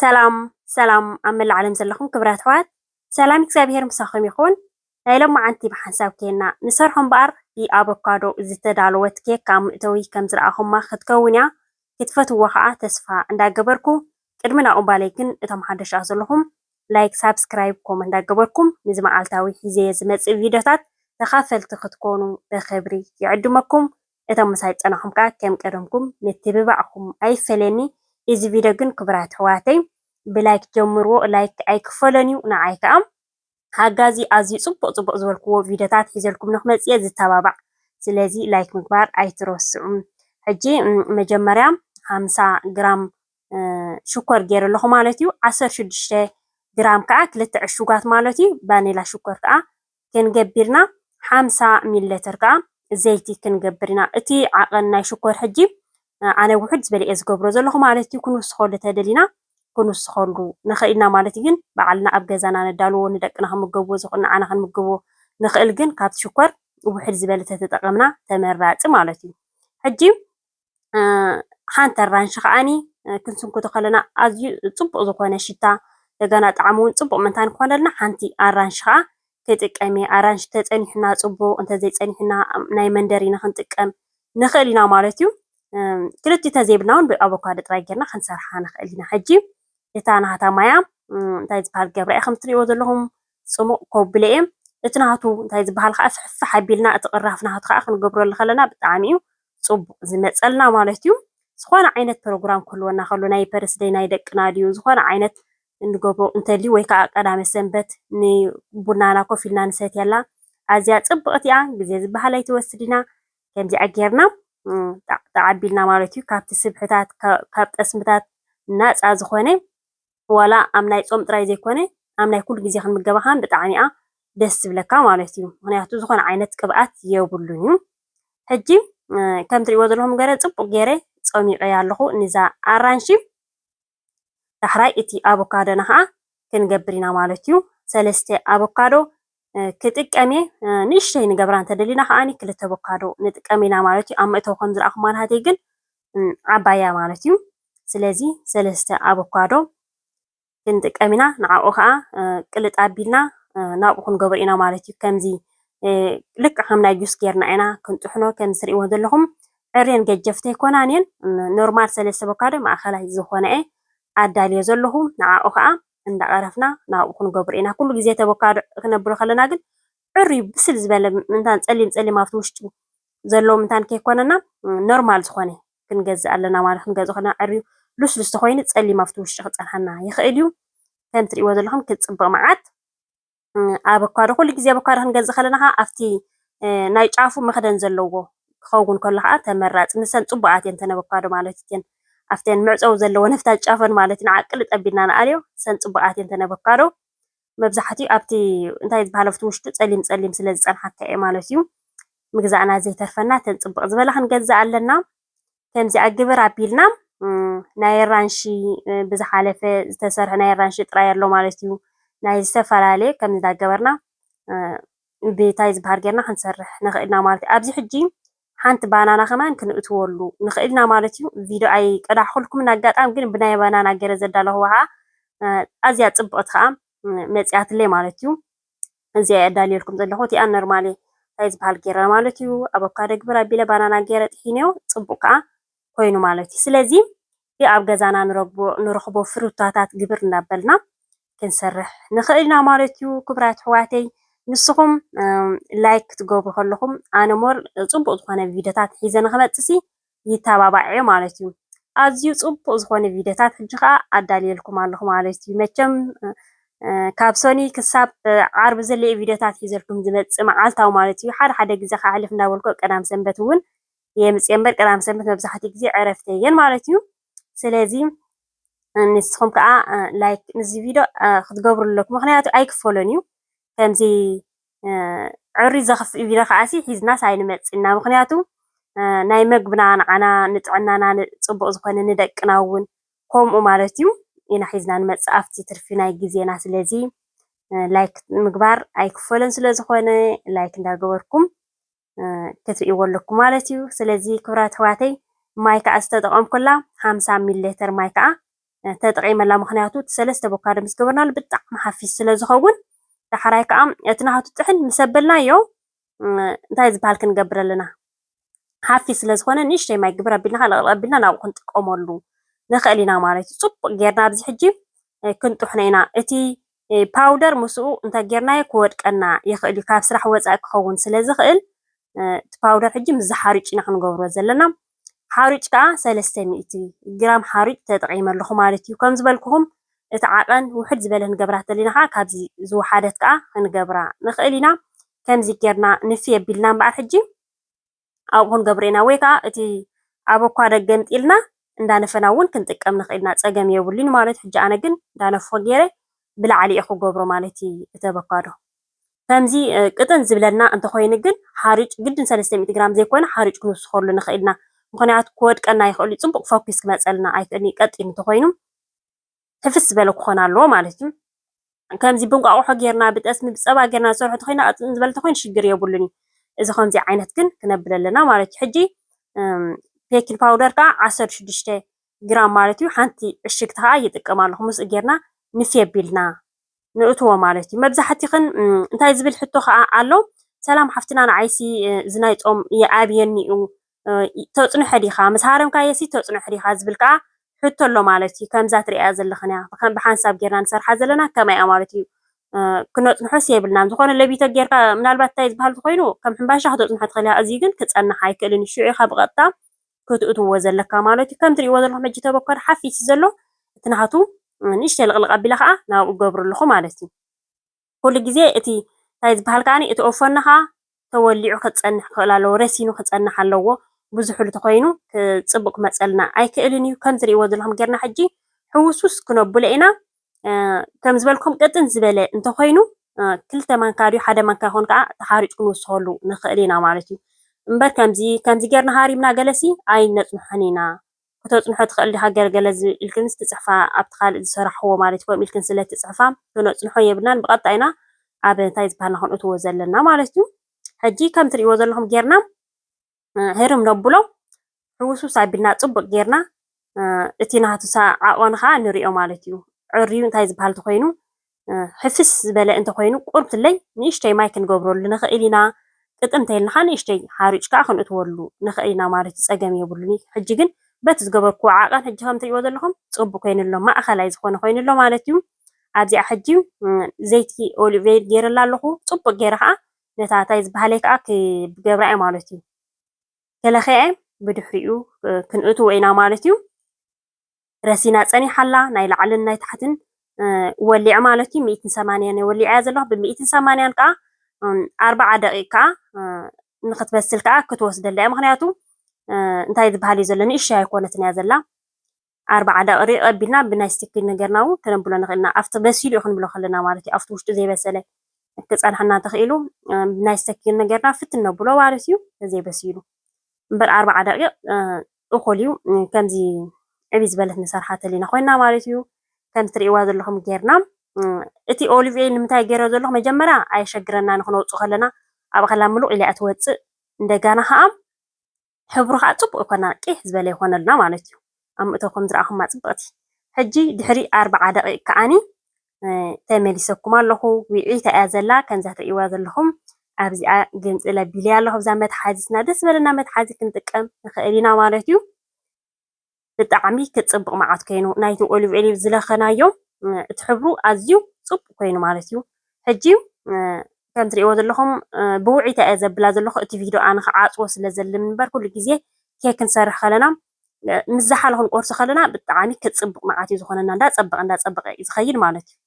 ሰላም ሰላም ኣብ መላእ ዓለም ዘለኹም ክብራት ኣሕዋት ሰላም እግዚኣብሔር ምሳኹም ይኹን። ናይ ሎማዓንቲ ብሓንሳብ ኬና ንሰርሖ እምበኣር ብኣቮካዶ ዝተዳለወት ኬክ ኣብ መእተዊ ከም ዝረኣኹማ ክትከውን እያ ክትፈትዎ ከዓ ተስፋ እንዳገበርኩ ቅድሚ ናብ እምባለይ ግን እቶም ሓደሽ ኣብ ዘለኹም ላይክ ሳብስክራይብ ኮም እንዳገበርኩም ንዚ መዓልታዊ ሒዘየ ዝመፅእ ቪድዮታት ተኻፈልቲ ክትኮኑ በክብሪ ይዕድመኩም። እቶም ምሳይ ዝጸናኩም ከኣ ከም ቀደምኩም ምትብባዕኩም ኣይፈለየኒ እዚ ቪድዮ ግን ክቡራት ኣሕዋተይ ብላይክ ጀምርዎ ላይክ ኣይክፈሎን እዩ ንዓይ ከኣ ሓጋዚ ኣዝዩ ጽቡቅ ጽቡቅ ዝበልክዎ ቪድዮታት ሒዘልኩም ንክመጽእ እየ ዝተባባዕ ስለዚ ላይክ ምግባር ኣይትረስዑ ሕጂ መጀመርያ ሓምሳ ግራም ሽኮር ገይረ ኣለኹ ማለት እዩ ዓሰርተ ሽዱሽተ ግራም ከኣ ክልተ ዕሹጋት ማለት እዩ ቫኒላ ሽኮር ከኣ ከንገቢርና ሓምሳ ሚለተር ከኣ ዘይቲ ክንገብር ኢና እቲ ዓቐን ናይ ሽኮር ሕጂ ኣነ ውሕድ ዝበለ እየ ዝገብሮ ዘለኹ ማለት እዩ ክንውስኸሉ ተደሊና ክንውስኸሉ ንኽእል ኢና ማለት ግን በዓልና ኣብ ገዛና ነዳልዎ ንደቅና ክምገብዎ ዝኽእል ንዓና ክንምግቦ ንኽእል ግን ካብቲ ሽኮር ውሕድ ዝበለ ተተጠቐምና ተመራጺ ማለት እዩ ሕጂ ሓንቲ ኣራንሺ ከኣኒ ክንስንክቶ ከለና ኣዝዩ ጽቡቕ ዝኾነ ሽታ እንደገና ጣዕሙ ውን ጽቡቕ ምእንታን ክኾነልና ሓንቲ ኣራንሺ ከኣ ክጥቀም እየ። ኣራንሺ ተጸኒሑና ጽቡቕ እንተዘይጸኒሑና ናይ መንደሪን ክንጥቀም ንኽእል ኢና ማለት እዩ። ክልቲኡ ተዘይብልና ውን ብኣቮካዶ ጥራይ ጌርና ክንሰርሓ ንኽእል ኢና። ሕጂ እታ ናህታ ማያ እንታይ ዝባሃል ገብራ እያ ከምቲ ትርእይዎ ዘለኹም ጽሙቕ ኮብለ እየ እቲ ናቱ እንታይ ዝባሃል ካኣ ፍሕፍሕ ኣቢልና እቲ ቅራፍ ናቱ ካኣ ክንገብረሉ ከለና ብጣዕሚ እዩ ጽቡቕ ዝመጸልና ማለት እዩ ዝኾነ ዓይነት ፕሮግራም ክህልወና ከሎ ናይ በርስደይ ናይ ደቅና ድዩ ዝኾነ ዓይነት እንገብሮ እንተልዩ ወይ ካኣ ቀዳመ ሰንበት ንቡናና ኮፍ ኢልና ንሰትየላ ኣዝያ ጽብቕቲ እያ ግዜ ዝባሃል ኣይትወስድና ከምዚኣ ጌርና ጣዕጣዕ ኣቢልና ማለት እዩ ካብቲ ስብሕታት ካብ ጠስምታት ናጻ ዝኾነ ዋላ ኣብ ናይ ጾም ጥራይ ዘይኮነ ኣብ ናይ ኩሉ ግዜ ክንምገባ ከኣ ብጣዕሚ እያ ደስ ትብለካ ማለት እዩ ምክንያቱ ዝኮነ ዓይነት ቅብኣት የብሉን እዩ ሕጂ ከም ትሪእዎ ዘለኹም ገረ ጽቡቅ ገይረ ጾሚቀያ ኣለኹ ንዛ ኣራንሺ ዳሕራይ እቲ ኣቮካዶና ከኣ ክንገብር ኢና ማለት እዩ ሰለስተ ኣቮካዶ ክጥቀም እየ ንእሽተይ ንገብራ እንተደሊና ከዓኒ ክልተ ኣቮካዶ ንጥቀም ኢና ማለት እዩ ኣብ መእተዊ ከም ዝረኣኹማ ናሃተይ ግን ዓባያ ማለት እዩ ስለዚ ሰለስተ ኣቮካዶ ክንጥቀም ኢና። ንዓኡ ከዓ ቅልጥ ኣቢልና ናብኡ ክንገብሮ ኢና ማለት እዩ። ከምዚ ልክዕ ከም ናይ ጁስ ጌርና ኢና ክንጥሕኖ ከም ዝርእይዎ ዘለኹም ዕሬን ገጀፍቲ ኣይኮናን እየን። ኖርማል ሰለስተ ኣቮካዶ ማእኸላይ ዝኾነ እየ ኣዳልዮ ዘለኹ። ንዓኡ ከዓ እንዳቐረፍና ናብኡ ክንገብሮ ኢና። ኩሉ ግዜ እቲ ኣቮካዶ ክነብሎ ከለና ግን ፅሩይ ብስል ዝበለ ምእንታን ፀሊም ፀሊም ኣብቲ ውሽጡ ዘለዎ ምእንታን ከይኮነና ኖርማል ዝኾነ ክንገዝእ ኣለና ማለት ክንገዝእ ከለና ዕርዩ ልስሉስ ተኮይኑ ፀሊም ኣብቲ ውሽጢ ክፀንሓና ይኽእል እዩ። ከምቲ ትሪእዎ ዘለኹም ክፅብቕ መዓት ኣቮካዶ ኩሉ ግዜ ኣቮካዶ ክንገዝእ ከለና ከዓ ኣብቲ ናይ ጫፉ መኽደን ዘለዎ ክኸውን ከሎ ከዓ ተመራፂ ንሰን ፅቡቃት እየን ተን ኣቮካዶ ማለት እየን ኣብተን መዕፀዊ ዘለዎ ነፍታ ጫፈን ማለት ንዓቅሊ ጠቢልና ንኣልዮ ሰን ፅቡቃት እየን ተን ኣቮካዶ መብዛሕትኡ ኣብቲ እንታይ ዝበሃል ኣብቲ ውሽጡ ፀሊም ፀሊም ስለ ዝፀንሓካ እየ ማለት እዩ። ምግዛእና ዘይተርፈና እተን ፅብቕ ዝበላ ክንገዝእ ኣለና። ከምዚኣ ግብር ኣቢልና ናይ ኣራንሺ ብዝሓለፈ ዝተሰርሐ ናይ ኣራንሺ ጥራይ ኣሎ ማለት እዩ። ናይ ዝተፈላለየ ከም እንዳገበርና ብታይ ዝበሃል ጌርና ክንሰርሕ ንኽእልና ማለት እዩ። ኣብዚ ሕጂ ሓንቲ ባናና ከማን ክንእትወሉ ንክእል ኢና ማለት እዩ ቪድዮ ኣይቀዳሕኩልኩምን ኣጋጣሚ ግን ብናይ ባናና ገረ ዘዳለኹዋ ከኣ ኣዝያ ጽብቕቲ ከኣ መጽያትለይ ማለት እዩ እዚኣ ኣዳልየልኩም ዘለኹ እቲኣ ኖርማሊ እንታይ ዝበሃል ገረ ማለት እዩ ኣቮካዶ ግብር ኣቢለ ባናና ገረ ጥሒነዮ ጽቡቕ ከኣ ኮይኑ ማለት እዩ። ስለዚ እቲ ኣብ ገዛና ንረኽቦ ፍሩታታት ግብር እናበልና ክንሰርሕ ንኽእል ኢና ማለት እዩ። ክቡራት ኣሕዋተይ ንስኹም ላይክ ክትገብሩ ከለኹም ኣነ ሞር ፅቡቕ ዝኾነ ቪድዮታት ሒዘ ንክመፅእ ሲ ይተባባዕ እየ ማለት እዩ። ኣዝዩ ፅቡቕ ዝኾነ ቪድዮታት ሕጂ ከዓ ኣዳልየልኩም ኣለኹ ማለት እዩ። መቸም ካብ ሰኒ ክሳብ ዓርቢ ዘለ ቪድዮታት ሒዘልኩም ዝመፅእ መዓልታዊ ማለት እዩ። ሓደ ሓደ ግዜ ከሕልፍ እናበልኩ ቀዳም ሰንበት እውን የምፅእ እምበር ቀዳም ሰንበት መብዛሕትኡ ግዜ ዕረፍቲ እየን ማለት እዩ። ስለዚ ንስኹም ከዓ ላይክ ንዚ ቪድዮ ክትገብሩ ኣለኩም ምክንያቱ ኣይክፈሎን እዩ ከምዚ ዕሪ ዘኽፍእ ቪድዮ ከዓሲ ሒዝናስ ኣይንመፅእና ምክንያቱ ናይ መግብና ንዓና ንጥዕናና ፅቡቅ ዝኾነ ንደቅና እውን ከምኡ ማለት እዩ ኢና ሒዝና ንመፅእ ኣብቲ ትርፊ ናይ ግዜና ስለዚ ላይክ ምግባር ኣይክፈሎን ስለዝኾነ ላይክ እንዳገበርኩም ክትርእይዎ ኣለኩ ማለት እዩ ስለዚ ክብራት ኣሕዋተይ ማይ ከዓ ዝተጠቐምኩላ ሓምሳ ሚሊ ሌተር ማይ ከዓ ተጠቒመላ ምክንያቱ እቲ ሰለስተ ቦካዶ ምስ ገበርናሉ ብጣዕሚ ሓፊስ ስለ ዝኸውን ዳሕራይ ከዓ እቲ ናሃቱ ጥሕን ምስ ኣበልናዮ እንታይ ዝበሃል ክንገብር ኣለና ሓፊስ ስለ ዝኾነ ንእሽተይ ማይ ግብር ኣቢልና ከዓ ለቕለቕ ኣቢልና ናብኡ ክንጥቀመሉ ንኽእል ኢና ማለት እዩ ፅቡቕ ጌርና ኣብዚ ሕጂ ክንጥሕኖ ኢና እቲ ፓውደር ምስኡ እንተጌርናዮ ክወድቀና ይኽእልዩ ካብ ስራሕ ወፃኢ ክኸውን ስለዝኽእል እቲ ፓውደር ሕጂ ምስዚ ሓሩጭ ኢና ክንገብሮ ዘለና ሓሩጭ ከዓ ሰለስተ ሚእቲ ግራም ሓሩጭ ተጠቂመ ኣለኹ ማለት እዩ ከም ዝበልኩኹም እቲ ዓቐን ውሕድ ዝበለ ክንገብራ ተለና ከዓ ካብዚ ዝወሓደት ከዓ ክንገብራ ንኽእል ኢና ከምዚ ጌርና ንፍየ ቢልና እምበኣር ሕጂ ኣብኡ ክንገብሮ ኢና ወይ ከኣ እቲ ኣቮካዶ ገምጢልና እንዳነፈና ውን ክንጥቀም ንክእል ኢና ጸገም የብሉን ማለትዩ ሕጂ ኣነ ግን እንዳነፈኩ ጌረ ብላዕሊ ኢየ ክገብሮ ማለት ኢዩ እቲ ኣቮካዶ ከምዚ ቅጥን ዝብለና እንተኮይኑ ግን ሓሩጭ ግድን ሰለስተ ሚእቲ ግራም ዘይኮነ ሓሩጭ ክንውስከሉ ንክእል ኢና ምክንያቱ ክወድቀና ይክእል ኢዩ ጽቡቅ ፈኩስ ክመጸልና ኣይክእልን ኢዩ ቀጢን እንተኮይኑ ሕፍስ ዝበለ ክኾን ኣለዎ ማለት እዩ። ከምዚ ብእንቋቑሖ ጌርና ብጠስሚ ብፀባ ጌርና ንሰርሖ እንተኾይና ቅጥን ዝበለ እንተኾይኑ ሽግር የብሉን እዩ። እዚ ከምዚ ዓይነት ግን ክነብል ኣለና ማለት እዩ። ሕጂ ቤኪንግ ፓውደር ከዓ ዓሰርተ ሽዱሽተ ግራም ማለት እዩ ሓንቲ ዕሽግቲ ከዓ ይጥቀም ኣለኹ ምስኡ ጌርና ንፊ ኣቢልና ንእትዎ ማለት እዩ። መብዛሕትኽን እንታይ ዝብል ሕቶ ከዓ ኣሎ፣ ሰላም ሓፍትና ንዓይሲ እዚ ናይ ጾም ይኣብየኒ እዩ ተጽንሖ ዲኻ ምስ ሃረምካየሲ ተጽንሖ ዲኻ ዝብል ከዓ ሕቶ ኣሎ ማለት እዩ። ከምዛ ትሪኣያ ዘለኽን እያ ብሓንሳብ ጌርና ንሰርሓ ዘለና ከማይ እያ ማለት እዩ። ክነጽንሖስ የብልናን ዝኾነ ለቢቶ ጌርካ ምናልባት እንታይ ዝበሃል ዝኾይኑ ከም ሕምባሻ ክተጽንሖ ትኽእል እያ። እዚ ግን ክጸንሕ ኣይክእልን እዩ። ሽዑ ኢኻ ብቐጥታ ከትእትዎ ዘለካ ማለት እዩ ከም ትሪእዎ ዘለኹም ሕጂ ተበኳዶ ሓፊሱ ዘሎ እቲ ናሃቱ ንእሽተይ ልቕልቕ ኣቢለ ከኣ ናብኡ እገብሮ ኣለኹ ማለት እዩ ኩሉ ግዜ እቲ ታይ ዝባሃል ከኣ እቲ ኦፎኒ ከኣ ተወሊዑ ከጸንሕ ክኽእል ኣለዎ ረሲኑ ክጸንሕ ኣለዎ ብዙሑሉ ተኾይኑ ጽቡቕ ክመጸልና ኣይክእልን እዩ ከም ትሪእዎ ዘለኹም ጌርና ሕጂ ሕውስውስ ክነብሎ ኢና ከም ዝበልኩም ቅጥን ዝበለ እንተኾይኑ ክልተ ማንካ ድዩ ሓደ ማንካ ይኾን ከዓ ተሓሪጭ ክንውስኸሉ ንኽእል ኢና ማለት እዩ እምበር ከምዚ ከምዚ ጌርና ሃሪምና ገለሲ ኣይነፅንሖን ኢና ክተፅንሖ ትኽእል ዲኻ ገለገለ ኢልክንስ ትፅሕፋ ኣብቲ ካልእ ዝሰራሕዎ ማለት እዩ ከምኡ ኢልክን ስለ ትፅሕፋ ክነፅንሖ የብልናን ብቐጥታ ኢና ኣብ እንታይ ዝበሃልና ክንእትዎ ዘለና ማለት እዩ ሕጂ ከም ትሪእዎ ዘለኹም ጌርና ህርም ነብሎ ሕውስውስ ኣቢልና ጽቡቅ ጌርና እቲ ናቱ ዓቀኑ ከዓ ንሪኦ ማለት እዩ ዕርዩ እንታይ ዝበሃል እንተኮይኑ ሕፍስ ዝበለ እንተኮይኑ ቁርብትለይ ንእሽተይ ማይ ክንገብረሉ ንክእል ኢና ቅጥን እንተይልና ከዓ ንእሽተይ ሓሩጭ ከዓ ክንእትወሉ ንክእል ኢና ማለት እዩ ጸገም የብሉን እዩ ሕጂ ግን በቲ ዝገበርክዎ ዓቀን ሕጂ ከም ትሪእዎ ዘለኹም ጽቡቅ ኮይኑ ኣሎ ማእከላይ ዝኾነ ኮይኑ ኣሎ ማለት እዩ ኣብዚኣ ሕጂ ዘይቲ ኦሊቭ ኦይል ገይረላ ኣለኹ ጽቡቅ ገይረ ከዓ ነታ እንታይ ዝበሃለይ ከኣ ክገብራ እየ ማለት እዩ። ከለኺዐ ብድሕሪኡ ክንእትዎ ኢና ማለት እዩ። ረሲና ጸኒሓ ኣላ ናይ ላዕልን ናይ ታሕትን ወሊዐ ማለት እዩ። ሚእትን ሰማንያን እየ ወሊዐያ ዘለኹ። ብሚእትን ሰማንያን ከኣ ኣርባዓ ደቂቕ ከኣ ንክትበስል ከኣ ክትወስደላ እያ። ምክንያቱ እንታይ ዝበሃል እዩ ዘሎ ንእሽተይ ኣይኮነትን እያ ዘላ። ኣርባዓ ደቕሪ ኣቐቢልና ብናይ ስቲኪ ነገርና ውን ከነብሎ ንኽእል ኢና። ኣብቲ በሲሉ ዩ ክንብሎ ከለና ማለት ዩ። ኣብቲ ውሽጡ ዘይበሰለ ክጸንሓና ተኽኢሉ ብናይ ስቲኪ ነገርና ፍትን ነብሎ ማለት ዩ ተዘይ በሲሉ። እምበር ኣርባዓ ደቒቕ እኹል ዩ ከምዚ ዕብይ ዝበለት ንሰርሓ ተሊና ኮይና ማለት ዩ። ከምቲ ትርእይዋ ዘለኹም ጌርና እቲ ኦሊቭ ኦይል ንምንታይ ጌሮ ዘለኹ መጀመርያ ኣየሸግረና ንክነውጽእ ከለና ኣብ ኣኸላ ምሉቕ ኢላ እያ ትወጽእ እንደጋና ከኣ ሕብሩ ከኣ ጽቡቅ ይኮና ቂሕ ዝበለ ይኮነልና ማለት እዩ ኣብ ምእታው ከም ዝረኣኩማ ጽብቅቲ ሕጂ ድሕሪ ኣርብዓ ደቂቅ ከኣኒ ተመሊሰኩም ኣለኩ ዊዒታ እያ ዘላ ከምዛ ትርእይዋ ዘለኩም ኣብዚኣ ግምጽል ኣቢለያ ኣለኩ ኣብዛ መትሓዚትና ደስ ዝበለና መትሓዚ ክንጥቀም ንክእል ኢና ማለት እዩ ብጣዕሚ ክፅብቕ መዓት ኮይኑ ናይቲ ኦሊቭ ኦይል ዝለኸናዮ እቲ ሕብሩ ኣዝዩ ፅቡቕ ኮይኑ ማለት እዩ ሕጂ ከም ትሪእዎ ዘለኹም ብውዒታ እየ ዘብላ ዘለኹ እቲ ቪድዮ ኣነ ክዓፅዎ ስለ ዘልም እምበር ኩሉ ግዜ ኬክ ክንሰርሕ ከለና ምስ ዝሓለ ክንቆርሶ ከለና ብጣዕሚ ክፅብቕ መዓት እዩ ዝኾነና እንዳፀበቐ እንዳፀበቐ እዩ ዝኸይድ ማለት እዩ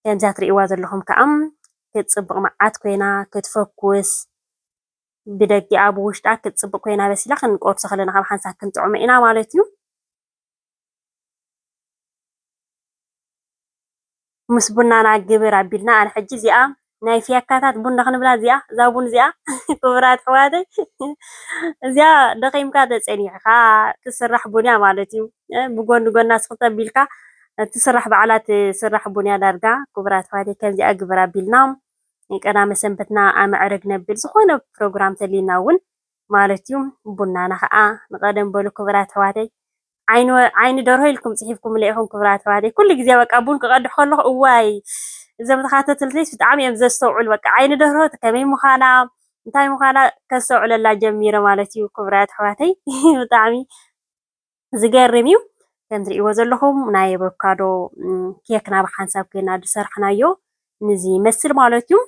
ከምዛ ትሪእዋ ዘለኹም ከዓ ክትፅብቕ መዓት ኮይና ክትፈኩስ ብደጊኣ ብውሽጣ ክትጽብቅ ኮይና በሲላ ክንቆርሶ ከለና ካብ ሓንሳብ ክንጥዕሞ ኢና ማለት እዩ። ምስ ቡናና ግብር ኣቢልና ኣነ ሕጂ እዚኣ ናይ ፍያካታት ቡን ክንብላ እዚኣ እዛ ቡን እዚኣ ክቡራት ኣሕዋተይ እዚኣ ደኺምካ ተጸኒዕካ ትስራሕ ቡን እያ ማለት እዩ። ብጎኒ ጎና ስኽት ኣቢልካ ትስራሕ በዓላ ትስራሕ ቡን እያ ዳርጋ ክቡራት ኣሕዋተይ ከምዚኣ ግብር ኣቢልና ቀዳመ ሰንበትና ኣመዕርግ ነብል ዝኾነ ፕሮግራም ተልዩና እውን ማለት እዩ ቡናና ከዓ ንቀደም በሉ ክብራት ኣሕዋተይ ዓይኒ ደርሆ ኢልኩም ፅሒፍኩምለ ኢኹም ክብራት ኣሕዋተይ ኩሉ ግዜ በቃ ቡን ክቀድሕ ከለኹ እዋይ እዞም ተኻተትልተይስ ብጣዕሚ እዮም ዘስተውዕሉ በቃ ዓይኒ ደርሆ ከመይ ምዃና እንታይ ምዃና ከስተውዕለላ ጀሚረ ማለት እዩ ክብራት ኣሕዋተይ ብጣዕሚ ዝገርም እዩ። ከም እትሪእዎ ዘለኹም ናይ ኣቮካዶ ኬክና ብ ሓንሳብ ኴንና ዝሰርሕናዮ ነዚ ይመስል ማለት እዩ።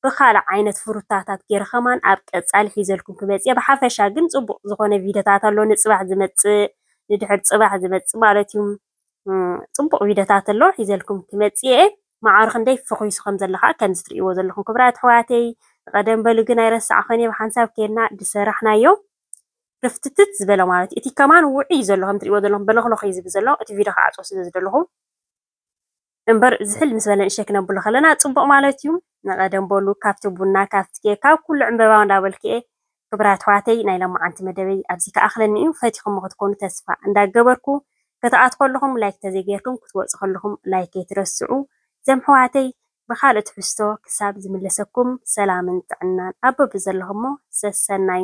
ብኻልእ ዓይነት ፍሩታታት ገይረ ከማን ኣብ ቀፃሊ ሒዘልኩም ክመፅእ እየ። ብሓፈሻ ግን ፅቡቕ ዝኾነ ቪድዮታት ኣሎ ንፅባሕ ዝመፅእ ንድሕሪ ፅባሕ ዝመፅእ ማለት እዩ። ፅቡቕ ቪድዮታት ኣሎ ሒዘልኩም ክመፅእ እየ። መዓር ክንደይ ፈኺሱ ከም ዘሎ ከዓ ከምዚ እትሪእዎ ዘለኹም ክብራት ኣሕዋተይ። ቐደም በሉ ግን ኣይረሳዕኹን እየ ብሓንሳብ ኴንና ዝሰራሕናዮ። ርፍትትት ዝበለ ማለት እዩ። እቲ ከማን ውዑይ እዩ ዘሎ ከም እትሪእዎ ዘለኹም በለኽለኽ እዩ ዝብል ዘሎ እቲ ቪድዮ ክዓፆ ስለ ዝደለኹ እምበር ዝሕል ምስ በለ ንእሽተይ ክነብሎ ከለና ፅቡቕ ማለት እዩ። ንቐደም በሉ ካብቲ ቡና ካብቲ ኬክ ካብ ኩሉ ዕምበባ እንዳበልኩ እየ ክብራት ኣሕዋተይ ናይ ለማዓንቲ መደበይ ኣብዚ ክኣኽለኒ እዩ ፈቲኹሞ ክትኮኑ ተስፋ እንዳገበርኩ ክትኣትዉ ከለኹም ላይክ ተዘይገይርኩም ክትወፁ ከለኹም ላይክ ከይትረስዑ ዘም ኣሕዋተይ ብኻልእ ትሕዝቶ ክሳብ ዝምለሰኩም ሰላምን ጥዕናን ኣብ በብዘለኹሞ ሰሰናዩ።